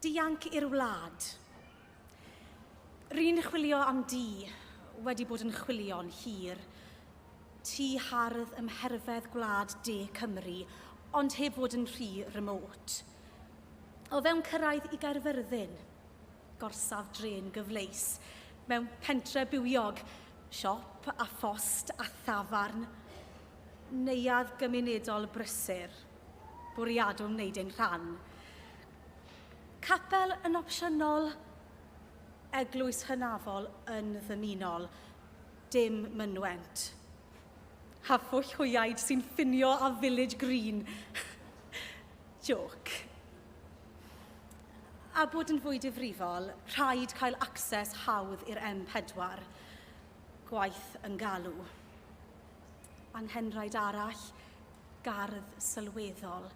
Dianc i'r wlad. Ry'n chwilio am di, wedi bod yn chwilio'n hir. Tŷ hardd ym mherfedd gwlad de Cymru, ond heb fod yn rhy remote. O fewn cyrraedd i Gaerfyrddin. Gorsaf drên gyfleus. Mewn pentre bywiog. Siop a phost a thafarn. Neuadd gymunedol brysur. Bwriadwn wneud ein rhan. Capel yn opsiynol, eglwys hynafol yn ddymunol, dim mynwent. A phwll hwyaid sy'n ffinio â Village Green. Jôc. A bod yn fwy difrifol, rhaid cael access hawdd i'r M4. Gwaith yn galw. Anghenraid arall, gardd sylweddol.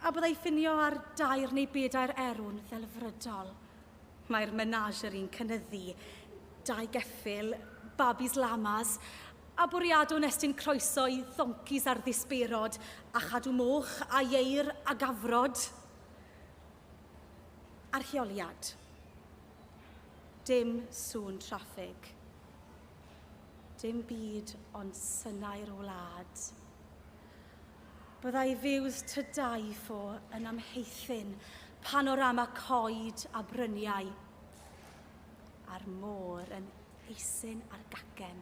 A byddai ffinio ar dair neu bedair erw'n ddelfrydol. Mae'r menageri'n cynyddu, dau geffyl, babis lamas, a bwriadwn estyn croeso i ddoncis ar ddisbeirod, a chadw moch, a ieir, a gafrod. Archeoliad. Dim sŵn traffig. Dim byd ond synau'r wlad. Byddai views tŷ dau ffo yn amheithyn panorama coed a bryniau a'r môr yn eisyn ar gacen.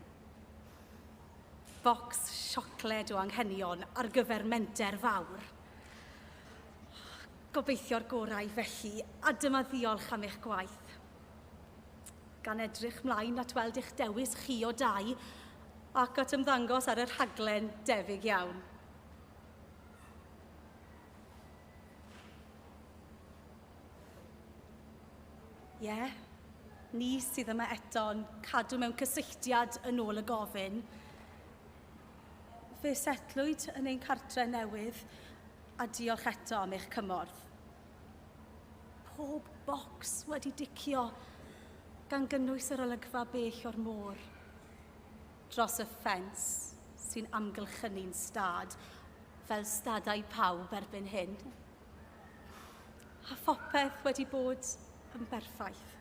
Bocs siocled o anghenion ar gyfer menter fawr. Gobeithio'r gorau felly, a dyma ddiolch am eich gwaith. gan edrych mlaen at weld eich dewis chi o dai ac at ymddangos ar y rhaglen debyg iawn. Ie, yeah. ni sydd yma eto'n cadw mewn cysylltiad yn ôl y gofyn. Fe setlwyd yn ein cartre newydd a diolch eto am eich cymorth. Pob bocs wedi dicio, gan gynnwys yr olygfa bell o'r môr. Dros y ffens sy'n amgylchynu'n stad, fel stadau pawb erbyn hyn. A phopeth wedi bod yn berffaith.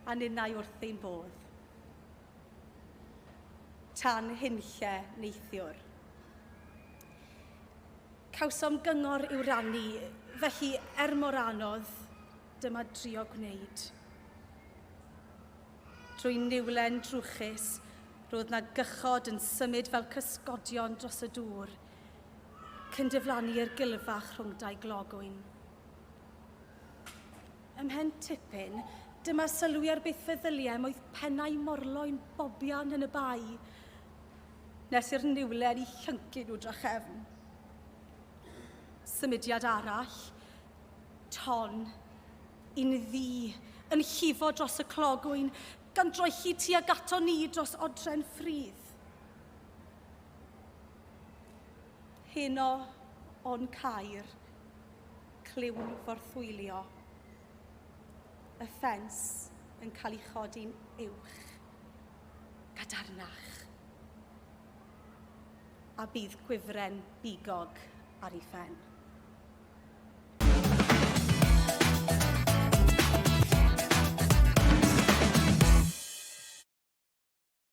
A ninnau wrth ein bodd. Tan hunlle neithiwr. Cawsom gyngor i'w rannu, felly er mor anodd, dyma drio gwneud. Trwy niwlen drwchus, roedd na gychod yn symud fel cysgodion dros y dŵr, cyn diflannu i'r gilfach rhwng dau glogwyn. Ymhen tipyn, dyma sylwi ar beth feddyliem oedd pennau morloyn bobian yn y bae, nes i'r niwlen i llyncu nhw drachefn. Symudiad arall, ton, un ddi, yn llifo dros y clogwyn, gan droelli tuag ato ni dros odren ffrydd. Heno o'n cair, clywn forthwylio, y ffens yn cael ei chodi'n uwch. gadarnach, a bydd gwifren bigog ar ei phen.